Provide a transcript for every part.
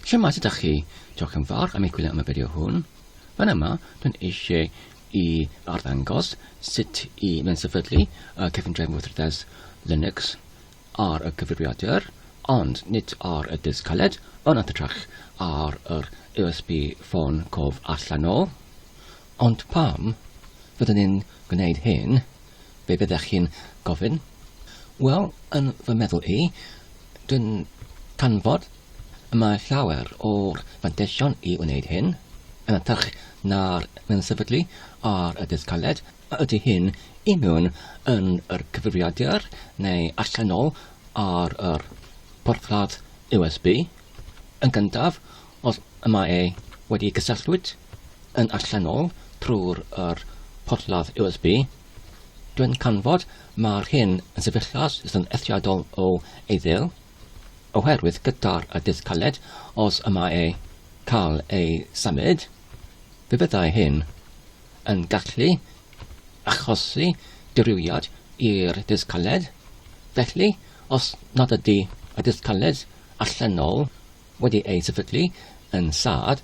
Shwmae, sut ydych chi? Diolch yn fawr am eich gwylio am y fideo hwn. Fan yma, dwi'n eisiau i arddangos sut i fensefydlu y cefndrefn weithredes Linux ar y cyfrifiadur, ond nid ar y disg caled, yn hytrach ar yr USB ffôn cof allanol. Ond pam fyddwn ni'n gwneud hyn? Be byddech chi'n gofyn? Wel, yn fy meddwl i, dwi'n canfod y mae llawer o'r fanteision i wneud hyn, yn hytrach na'r mewn-sefydlu ar y dysg caled, a ydy hyn i mewn yn yr cyfrifiadur neu allanol ar yr porthladd USB, yn gyntaf, Os y mae e wedi cysylltwyd yn allanol trwy'r yr porthladd USB, dwi'n canfod mae'r hyn yn sefyllfa's sy'n eithriadol o eiddil, oherwydd gyda'r y disg caled, os y mae e cael ei symud, fe fyddai hyn yn gallu achosi dirywiad i'r disg caled, felly os nad ydy y disg caled allanol wedi ei sefydlu yn Saad,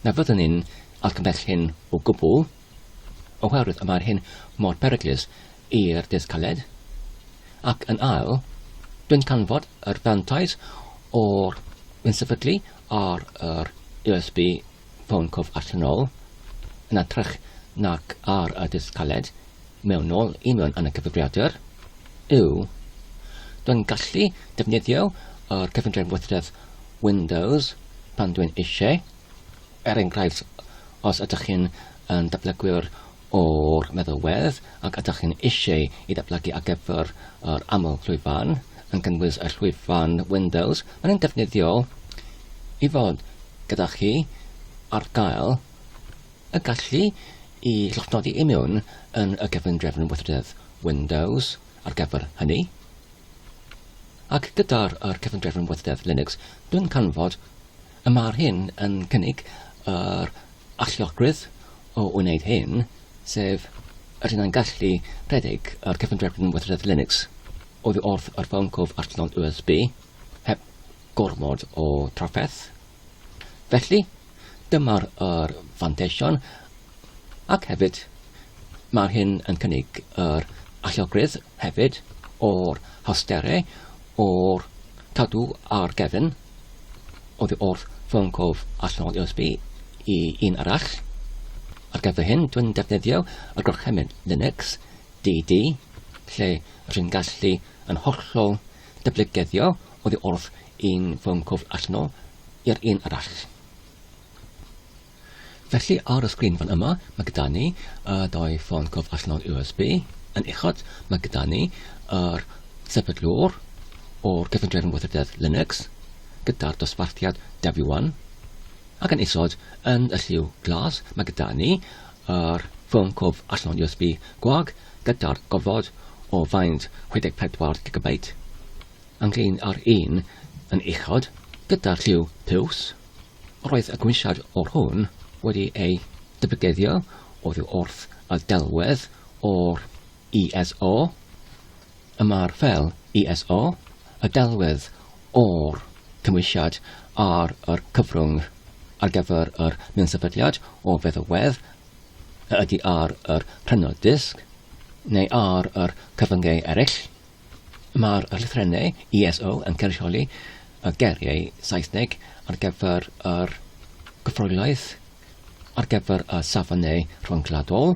na fyddwn ni'n argymell hyn o gwbl, oherwydd y mae'r hyn mor beryglus i'r dull caled, ac yn ail, dwi'n canfod yr fantais o'r yn sefydlu ar yr USB ffôn cof allanol, yn atrych nac ar y dull caled, mewnol i mewn yn y cyfrifiadur yw dwi'n gallu defnyddio yr cyfundrefn weithredwr Windows pan dwi'n eisiau. Er enghraifft, os ydych chi'n yn datblygwyr o'r meddalwedd ac ydych chi'n eisiau i ddatblygu ar gyfer yr aml llwyfan, yn cynnwys y llwyfan Windows, mae'n yn defnyddiol i fod gyda chi ar gael y gallu i lofnodi i mewn yn y cefndrefn weithrededd Windows ar gyfer hynny. Ac gyda'r yr cefndrefn weithrededd Linux, dwi'n canfod y mae'r hyn yn cynnig yr alluogrwydd o wneud hyn, sef yr hyn yn gallu rhedeg yr cefndrefn weithrededd Linux oddi wrth yr ffôn cof arllon USB heb gormod o trafferth. Felly, Dyma'r yr fanteision ac hefyd mae'r hyn yn cynnig yr allogrwydd hefyd o'r hawsterau o'r cadw ar gefn oddi wrth ffôn cof allanol USB i un arall. Ar gyfer hyn, dwi'n defnyddio y gorchymyn Linux DD, lle rwy'n gallu yn hollol Dyblygeiddio oddi wrth un ffôn cwfl allan o i'r un arall. Felly ar y sgrin fan yma, mae gyda ni y dau ffôn cwfl allan o'r USB. Yn uchod, mae gyda ni yr sefydlwr o'r gyfundrefn weithrededd Linux gyda'r dosbarthiad W1 ac yn isod yn y lliw glas mae gyda ni ar bwnc o allan USB gwag gyda'r gofod o faint 64 gigabeit, ynglŷn â'r un yn uchod gyda'r lliw piws, roedd y gwynsiad o'r hwn wedi ei dybygeddio oddi wrth y delwedd o'r ISO. y mae'r fel ISO, y delwedd o'r cymwysiad ar yr cyfrwng ar gyfer yr nunsefydliad o feddalwedd y ydy ar yr rhynod disg neu ar yr cyfyngau eraill. Mae'r llythrennau ISO yn cynrychioli y geriau Saesneg ar gyfer yr gyfroelaeth ar gyfer y safonau rhyngwladol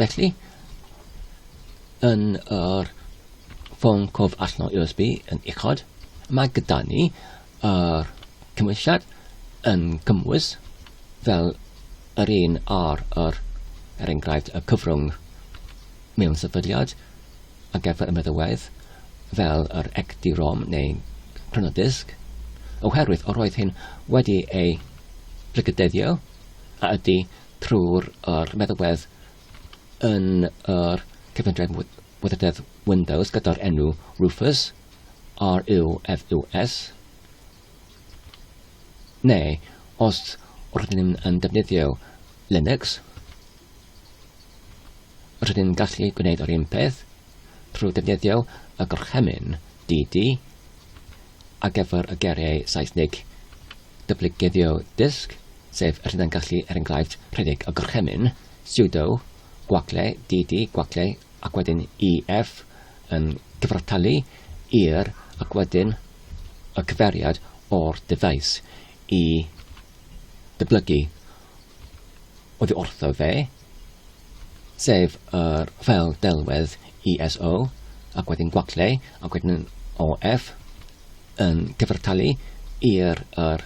Felly, yn yr ffôn cof allanol USB yn uchod, mae gyda ni yr cymwysiad yn cymwys fel yr un ar yr, er enghraifft, y cyfrwng mewn sefydliad a geffer y meddywedd fel yr XD-ROM neu prenodisg, oherwydd yr oedd hyn wedi ei blygydeddio a ydy trwy'r yr meddalwedd yn yr cyfundrefn weithrededd Windows gyda'r enw Rufus, R-U-F-U-S, neu os rydyn ni'n yn defnyddio Linux, rydyn ni'n gallu gwneud yr un peth trwy defnyddio y gorchymyn DD ar gyfer y geiriau Saesnig dyblygeiddio dysg, sef yr hunan gallu er enghraifft rhedeg y gorchymyn, sudo, gwagle, dd, gwagle, ac wedyn EF yn cyfartalu i'r ac wedyn y cyfeiriad o'r dyfais i ddyblygu oddi wrtho fe, sef yr ffeil delwedd ISO, ac wedyn gwacleu, ac wedyn OF, yn cyfartalu i'r er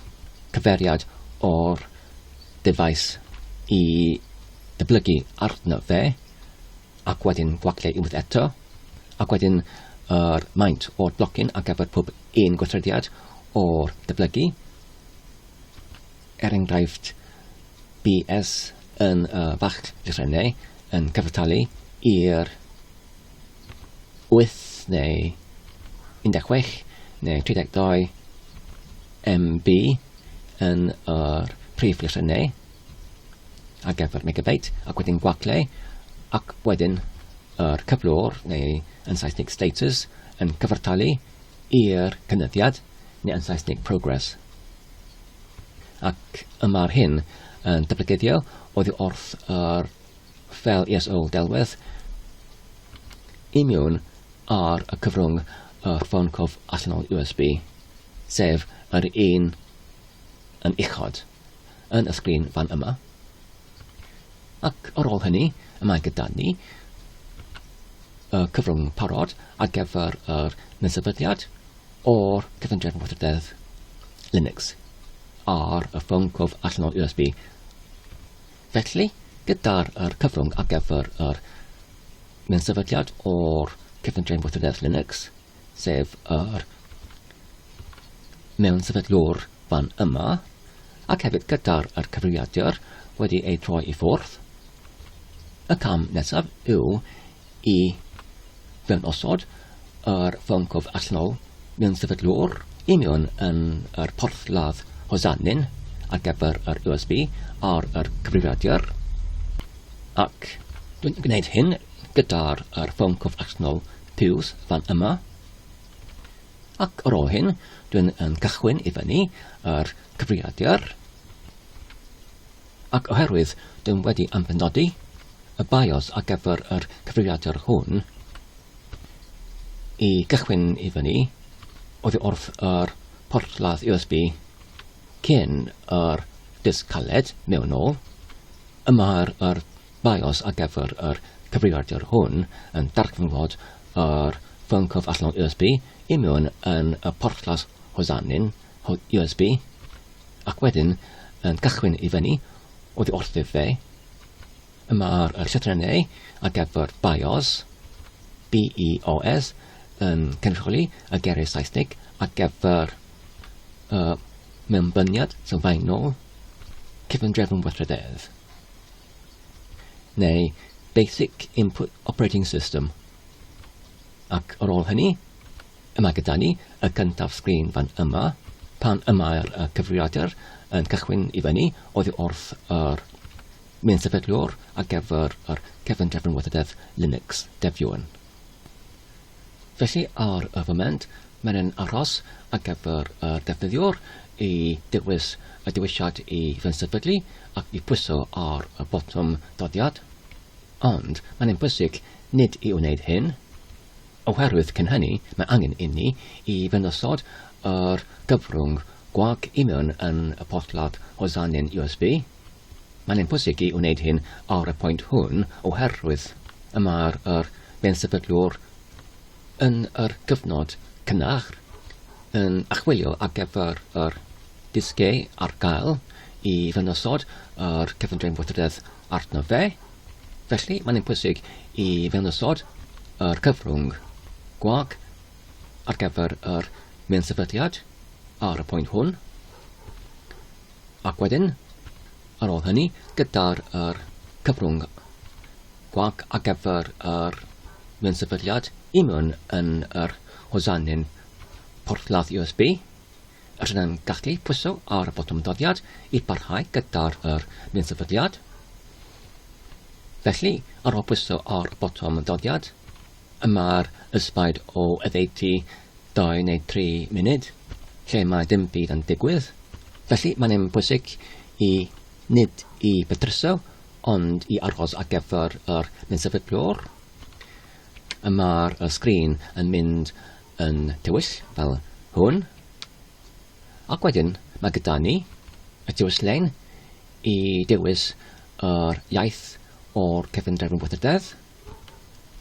cyferiad o'r dyfais i dyblygu arno fe, ac wedyn gwacleu unwaith eto, ac wedyn yr maint o'r blocyn ar gyfer pob un gweithrediad o'r dyblygu, er enghraifft BS yn y Bach Rhennau yn cyfartalu i'r 8 neu 16 neu 32 MB yn yr prif lythrennau ar gyfer megabeit ac wedyn gwagle ac wedyn yr cyflwr neu yn Saesneg status yn cyfartalu i'r cynyddiad neu yn Saesneg progress. Ac y mae'r hyn yn dyblygedio oddi wrth yr fel ESO delwedd i miwn ar y cyfrwng y ffôn cof allanol USB, sef yr un yn uchod yn y sgrin fan yma. Ac ar ôl hynny, y mae gyda ni y cyfrwng parod ar gyfer yr nesefyddiad, o'r cyfundrefn gweithredoedd Linux ar y ffôn cof allan o USB. Felly, gyda'r er cyfrwng ar gyfer yr mewn sefydliad o'r cyfundrefn gweithredoedd Linux, sef yr mewn sefydlwr fan yma, ac hefyd gyda'r er cyfrifiadur wedi ei droi i ffwrdd, y cam nesaf yw i ddangosod yr froncof allanol mewn sefydlwr union yn yr porthladd hosanyn ar gyfer yr USB ar yr cyfrifiadur ac dwi'n gwneud hyn gyda'r yr froncof allanol piws fan yma ac ar ôl hyn dwi'n cychwyn i fyny yr cyfrifiadur Ac oherwydd dyw'n wedi amhenodi y bios ar gyfer yr cyfrifiadur hwn i gychwyn i fyny oddi wrth yr porthladd USB cyn yr disg caled mewn nôl, y mae'r yr bios ar gyfer yr cyfrifiadur hwn yn darganfod yr ffôn cof allanol USB i mewn yn y porthladd hosanyn o USB ac wedyn yn cychwyn i fyny oddi wrthyf fe. Yma'r yr llythrennau ar gyfer BIOS, BEOS, yn cynrychioli y geiriau Saesnig ar gyfer y mewnbyniad sylfaenol cyfundrefn weithrededd neu Basic Input Operating System Ac ar ôl hynny, y mae gyda ni y cyntaf sgrin fan yma, pan y mae'r cyfrifiadur yn cychwyn i fyny oddi wrth yr menu sefydliwr ar gyfer yr cefn drefn weithrededd Linux Devuan. Felly ar y foment, mae'n yn aros ar gyfer y defnyddiwr i dewis y dewisiad i fensefydlu ac i pwyso ar y botwm doddiad. Ond mae'n ein bwysig nid i wneud hyn, oherwydd cyn hynny mae angen inni i fynd osod yr gyfrwng gwag i mewn yn y porthladd Hosanyn USB. Mae'n ein bwysig i wneud hyn ar y pwynt hwn oherwydd y mae'r yr bensefydlwr yn yr gyfnod cynnar yn achwilio ar gyfer yr disgau ar gael i fynd osod yr cyfundrefn fodredd arno fe, felly mae'n pwysig i fewnosod yr cyfrwng gwag ar gyfer yr mewn-sefydliad ar y pwynt hwn, ac wedyn, ar ôl hynny, gyda'r yr cyfrwng gwag ar gyfer yr mewn-sefydliad i mewn yn yr hosanyn porthladd USB, Rydyn yn gallu pwyso ar y botwm doddiad i barhau gyda'r yr nunsefydliad. Felly, ar ôl pwyso ar y botwm doddiad, y mae'r ysbaid o oddeutu 2 neu 3 munud, lle mae dim byd yn digwydd. Felly, mae'n yn bwysig i nid i bedryso, ond i aros ar gyfer yr nunsefydliwr. Y mae'r sgrin yn mynd yn tywyll fel hwn ac wedyn mae gyda ni y tywylllein i dewis yr iaith o'r cefndrefn weithrededd.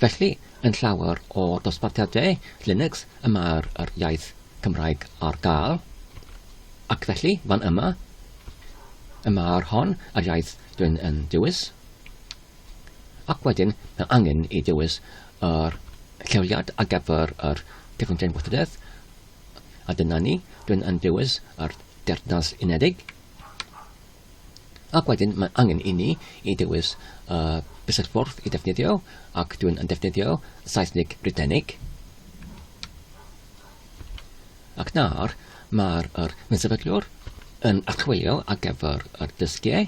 Felly, yn llawer o dosbarthiadau Linux y mae'r yr iaith Cymraeg ar gael, ac felly, fan yma, y mae'r hon yr iaith dwi'n yn dewis. Ac wedyn, mae angen i ddewis yr lleoliad ar gyfer yr Cyfundrefn Gweithredoedd, a dyna ni, rwy'n yn dewis yr Deyrnas Unedig. Ac wedyn, mae angen i ni i ddewis y bysedd-ffordd i ddefnyddio, ac dwi'n yn defnyddio Saesneg Brydeinig. Ac nawr, mae'r yr Mynsefydliwr yn archwilio ar gyfer yr dysgiau.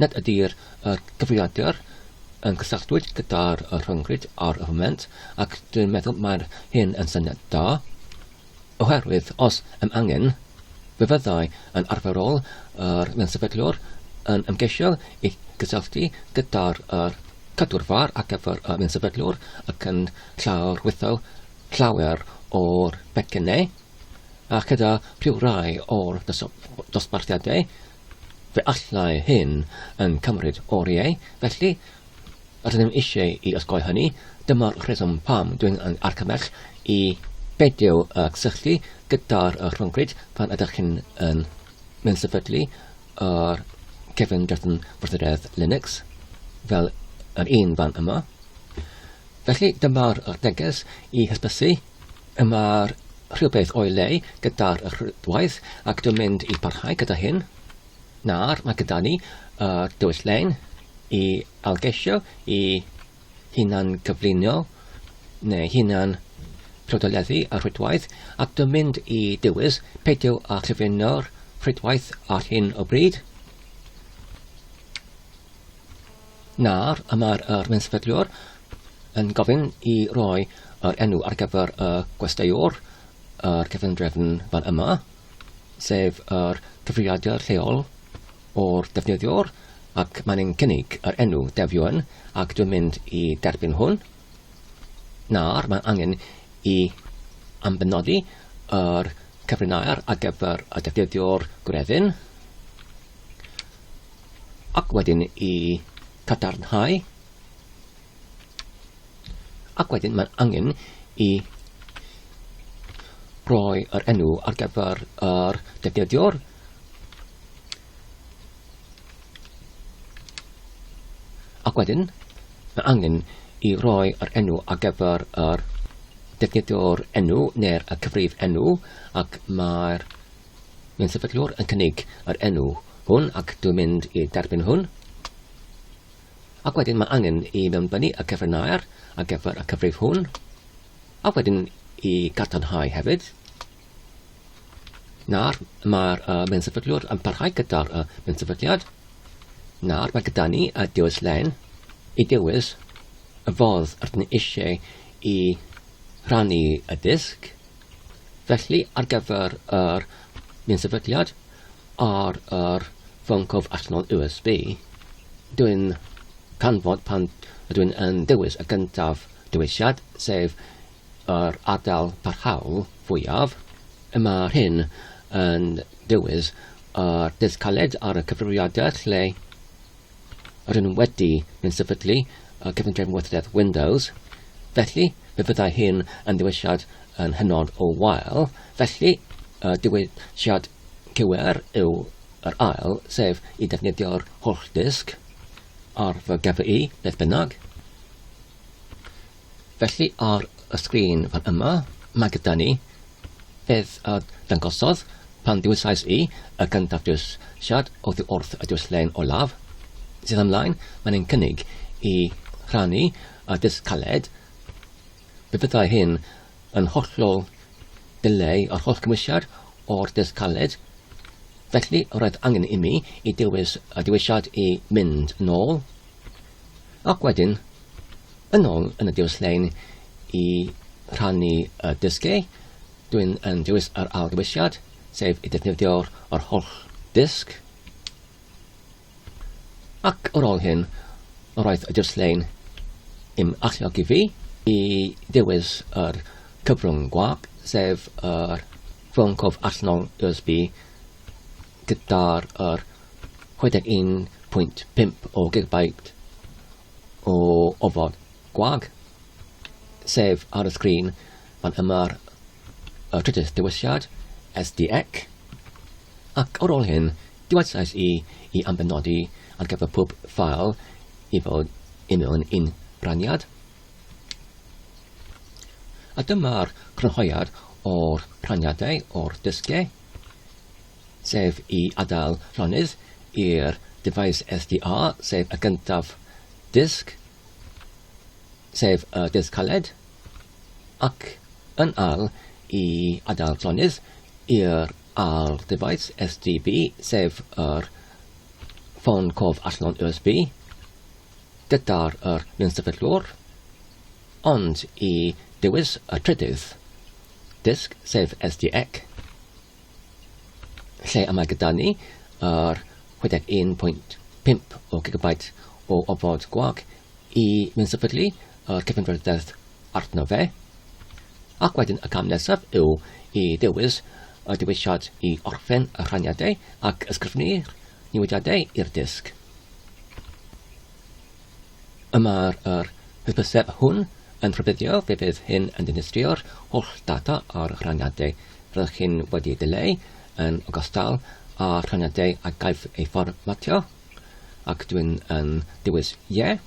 Nid ydy'r cyfrifiadur yn cysylltwyd gyda'r rhyngrwyd ar y foment, ac dwi'n meddwl mae'r hyn yn syniad da, oherwydd os am angen, fe fyddai yn arferol yr ansefydliwr yn ymgeisio i gysylltu gyda'r cadwrfa ar gyfer yr ansefydliwr ac yn llawrwyddo llawer o'r pecynnau, a chyda rhywrai o'r dosbarthiadau Fe allai hyn yn cymryd oriau, felly, rydyn ni eisiau i osgoi hynny, dyma'r rheswm pam dwi'n yn argymell i beidio â cysylltu gyda'r rhyngrwyd pan ydych chi'n yn menysefydlu yr cefn drethin partneriaeth Linux, fel yr un fan yma. Felly, dyma'r neges i hysbysu. Yma rhywbeth o'i le gyda'r rhwydwaith ac dwi'n mynd i barhau gyda hyn. Nawr mae gyda ni y dwyll lein i algesio i hunan gyflunio neu hunan rhodolleddu y rhwydwaith ac dwi'n mynd i dywys peidio â chyfuno'r rhwydwaith ar hyn o bryd. Nawr, y mae'r arweinyddwr yn gofyn i roi yr enw ar gyfer y gwesteiwr ar gefndrefn fan yma, sef yr cyfrifiadur lleol o'r defnyddiwr, ac mae'n ein cynnig yr enw defion, ac dwi'n mynd i derbyn hwn. Nawr, mae angen i ambenodi yr cyfrinair ar gyfer y defnyddiwr gwreddyn. Ac wedyn i cadarnhau. Ac wedyn mae'n angen i roi yr enw ar gyfer yr defnyddiwr. Ac wedyn mae angen i roi yr enw ar gyfer yr defnyddiwr enw neu'r cyfrif enw ac mae'r Mae'n sefydliwr yn cynnig yr enw hwn ac dwi'n mynd i derbyn hwn. Ac wedyn mae angen i mewnbynnu y cyfrinair ar gyfer y cyfrif hwn. A wedyn i gadarnhau hefyd. Nawr mae'r uh, mensefydliwr yn parhau gyda'r uh, mensefydliad. Nawr mae gyda ni y dewis len i dewis y fodd rydyn ni eisiau i rannu y disg. Felly, ar gyfer yr un sefydliad ar yr fyncof allanol USB, dwi'n canfod pan ydw i'n yn dewis y gyntaf dewisiad, sef yr adael parhaol fwyaf, y mae'r hyn yn dewis yr dydd caled ar y cyfrifiadur lle Rydyn nhw wedi mynd sefydlu y cyfundrefn weithrededd Windows, felly fe fyddai hyn yn ddiwesiad yn hynod o wael, felly y diwesiad cywir yw yr ail, sef i ddefnyddio'r holl ddisg ar fy GPU, beth bynnag. Felly ar y sgrin fan yma mae gyda ni beth a dangosodd pan ddewisais i y gyntaf jyst siarad oddi wrth y dwyslen olaf sydd ymlaen. Mae'n ein cynnig i rhannu a dysg caled. Fe fyddai hyn yn hollol dileu yr holl gymwysiad o'r dysg caled. Felly roedd angen imi i dewis y dewisiad i mynd nôl. Ac wedyn, yn ôl yn y diwylliain i rhannu y dysgu, dwi'n yn dewis yr ail ddewisiad, sef i ddefnyddio yr holl ddysg. Ac ar ôl hyn, roedd y diwylliain i'm alluogi fi i ddewis yr cyfrwng gwag, sef yr ffôn cof allanol USB gyda'r yr 61.5 o gigabyte o ofod gwag, sef ar y sgrin fan yma'r y trydydd dewisiad, SDEC, ac ar ôl hyn, diwesais i i ambenodi ar gyfer pob ffael i fod i mewn un rhaniad. A dyma'r crynhoiad o'r rhaniadau o'r dysgau. sef i adael llonydd i'r dyfais SDA, sef y gyntaf disg, sef y disg caled, ac yn ail i adael llonydd i'r ail dyfais SDB, sef yr ffôn cof allan USB, gyda'r yr nynsyfyllwr, ond i dewis y trydydd disg, sef SDEC, Lle y mae gyda ni yr 61.5 o gigabait o ofod gwag i mensefydlu yr cyfanrydedd arno fe. Ac wedyn y cam nesaf yw i ddewis y dewisiad i orffen y rhaniadau ac ysgrifennu'r newidiadau i'r disg. Y mae'r yr hysbyseb hwn yn rhybuddio fe fydd hyn yn dinistrio'r holl data a'r rhaniadau rydych chi'n wedi eu dileu yn ogystal â rhaniadau a gaiff eu fformatio ac dwi'n yn dewis ie. Yeah.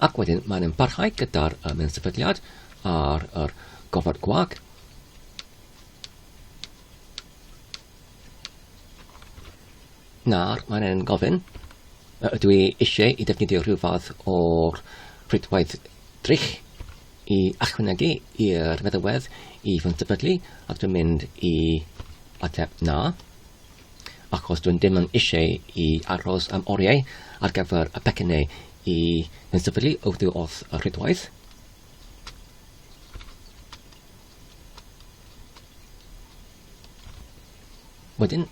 Ac wedyn mae'n yn parhau gyda'r um, sefydliad ar yr gofod gwag. Nawr, mae'n ein gofyn, ydw i eisiau i defnyddio rhyw fath o'r rhwydwaith drych i achwynegu i'r meddywedd i fy sefydlu, ac dwi'n mynd i ateb na, achos dwi'n dim yn eisiau i aros am oriau ar gyfer y pecynnau i fy sefydlu wrth y rhwydwaith. Wedyn,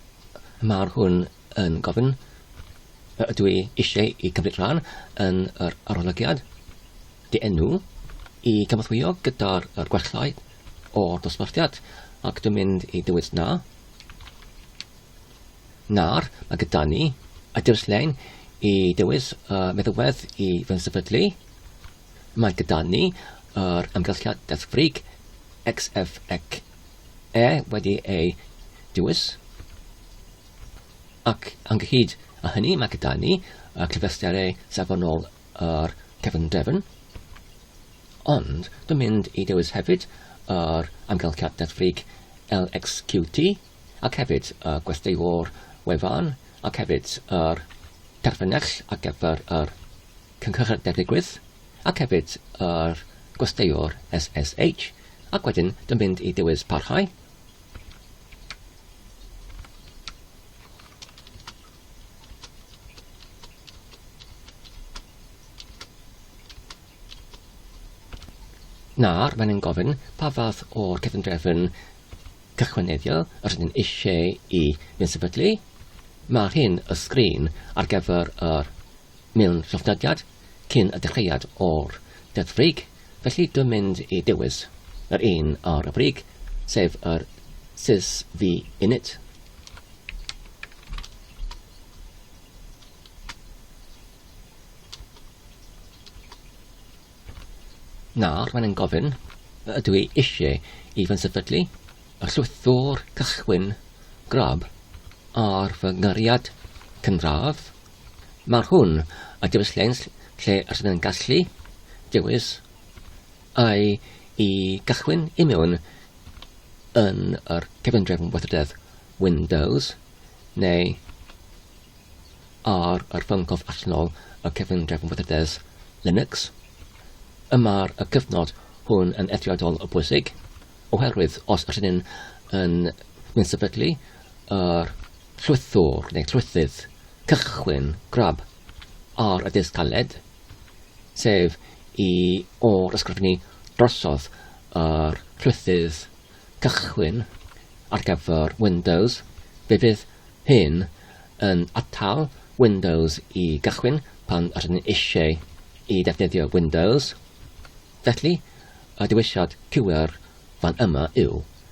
mae'r hwn yn gofyn ydw i eisiau i cymryd rhan yn yr arolygiad dy enw i gyfathwyo gyda'r gwellau o'r dosbarthiad ac dwi'n mynd i dywys na na'r mae gyda ni a dewis lein i dewis uh, meddywedd i fy nsefydlu Mae gyda ni yr amgylchiad deddfwrig XF ac E wedi ei dewis, ac ynghyd â hynny mae gyda ni y cyfleusterau safonol yr cefnderfyn, ond dwi'n mynd i dewis hefyd yr amgylchiad deddfwrig LXQT ac hefyd y gwesteiwr wefan ac hefyd yr terfynell ar gyfer yr cynghorau beryglus, ac hefyd yr gwesteiwr SSH, ac wedyn dwi'n mynd i dewis parhau. Nawr, mae'n ein gofyn pa fath o'r cefndrefn cychwyneddiol yr ydyn eisiau i fynd sefydlu. Mae'r hyn y sgrin ar gyfer yr mewn lloftydiad cyn y dechreuad o'r Deddf Brig, felly dwi'n mynd i dewis yr un ar y brig, sef yr Cis Vi Unit. Nawr, mae'n gofyn, ydw i eisiau i fy nsefydlu y llwythwr cychwyn grab ar fy nghariad cynradd Mae hwn a dewis lens lle y rydyn yn gallu dewis ai i gychwyn i mewn yn yr cefndrefn weithrededd Windows neu ar yr ffyncof allanol y cefndrefn weithrededd Linux. Yma'r y cyfnod hwn yn eithriadol o bwysig oherwydd os rydyn yn mynd sefydlu yr Llwythwr neu llwythydd, cychwyn, grab, ar y dull galed, sef i ôl-ysgrifennu drosodd yr llwythydd cychwyn ar gyfer Windows, fe fydd hyn yn atal Windows i gychwyn pan rydyn ni eisiau i ddefnyddio Windows. Felly, y dewisiad cywir fan yma yw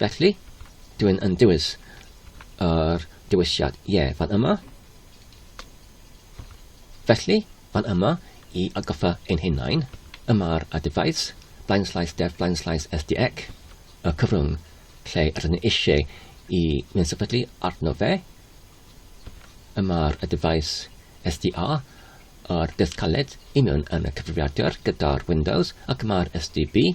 Felly, dw i'n yn dewis yr dewisiad ie fan yma. Felly, fan yma, i agoffa ein hunain, yma'r a dyfais, blaenslais def blaenslais SDEC, y cyfrwng lle rydyn ni eisiau i mynd sefydlu arno fe, yma'r a dyfais SDA, yr dysg caled i mewn yn y cyfrifiadur gyda'r Windows ac yma'r SDB,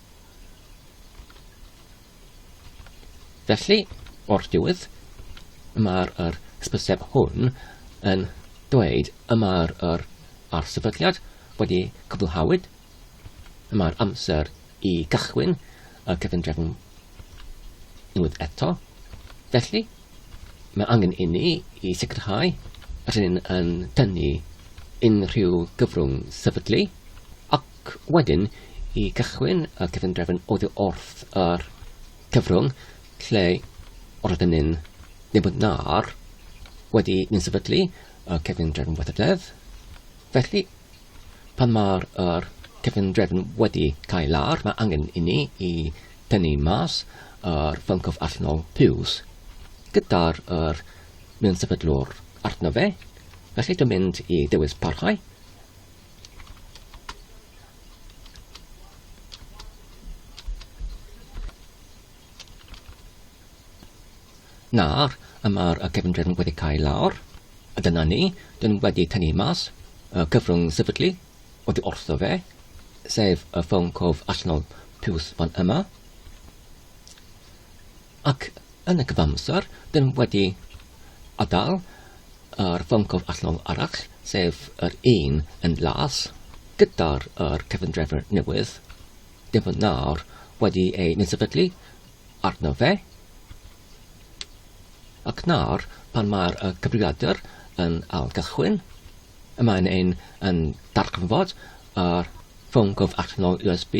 Felly, o'r diwedd, mae'r yr hysbyseb hwn yn dweud y mae'r yr arsefydliad wedi cwblhawyd, y mae'r amser i gychwyn y cyfundrefn unwaith eto. Felly, mae angen i ni i sicrhau rydyn yn tynnu unrhyw gyfrwng sefydlu Ac wedyn, i gychwyn y cyfundrefn oddi wrth yr cyfrwng lle roedden ni'n gwybod na'r wedi ni'n sefydlu y cyfundrefn weithrededd. Felly, pan mae'r er cyfundrefn wedi cael lar, mae angen i ni i tynnu mas yr ffyncof allnol piws gyda'r er mewn sefydlwr arno fe. Felly, dwi'n mynd i dewis parhau. Nawr, y mae'r y cefndir yn wedi cael lawr, a dyna ni, dyn wedi tynnu mas y cyfrwng sefydlu oddi wrtho fe, sef y ffôn cof allanol piws fan yma. Ac yn y cyfamser, dyn wedi adael yr ffôn cof allweddol arall, sef yr un yn las, gyda'r yr cyfundrefn newydd, dyn fod nawr wedi ei nysefydlu arno fe, ac nawr pan mae'r y cyfrifiadur yn ail gychwyn, y mae'n ein yn darganfod yr ffôn cof allweddol USB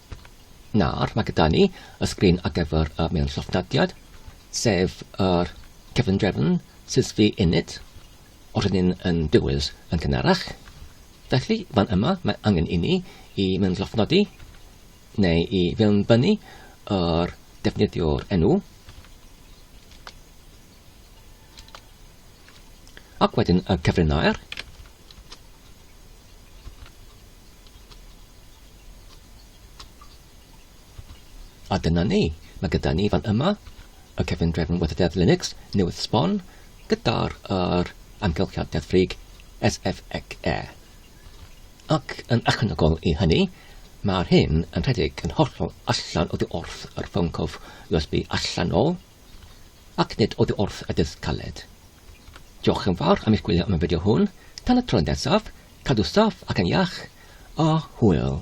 Nawr, mae gyda ni y sgrin ar gyfer y mewn llofnodiad, sef yr cefndrefn sysfi init o'r hynny'n yn dywys yn gynharach. Felly, fan yma, mae angen i ni i mewn llofnodi neu i fewn bynnu yr defnyddiwr enw Ac wedyn y cyfrinair. Ac A dyna ni. Mae gyda ni fan yma y cefn drefn weithrededd Linux newydd sbon gyda'r er, amgylchiad deddfrig SFXE. Ac yn ychwanegol i hynny, mae'r hyn yn rhedeg yn hollol allan o ddi wrth yr ffôn cof USB allanol Ac nid oddi wrth y dydd caled. Diolch yn fawr am eich gwylio am y fideo hwn. Tan y tro nesaf, cadw saff ac yn iach, a hwyl!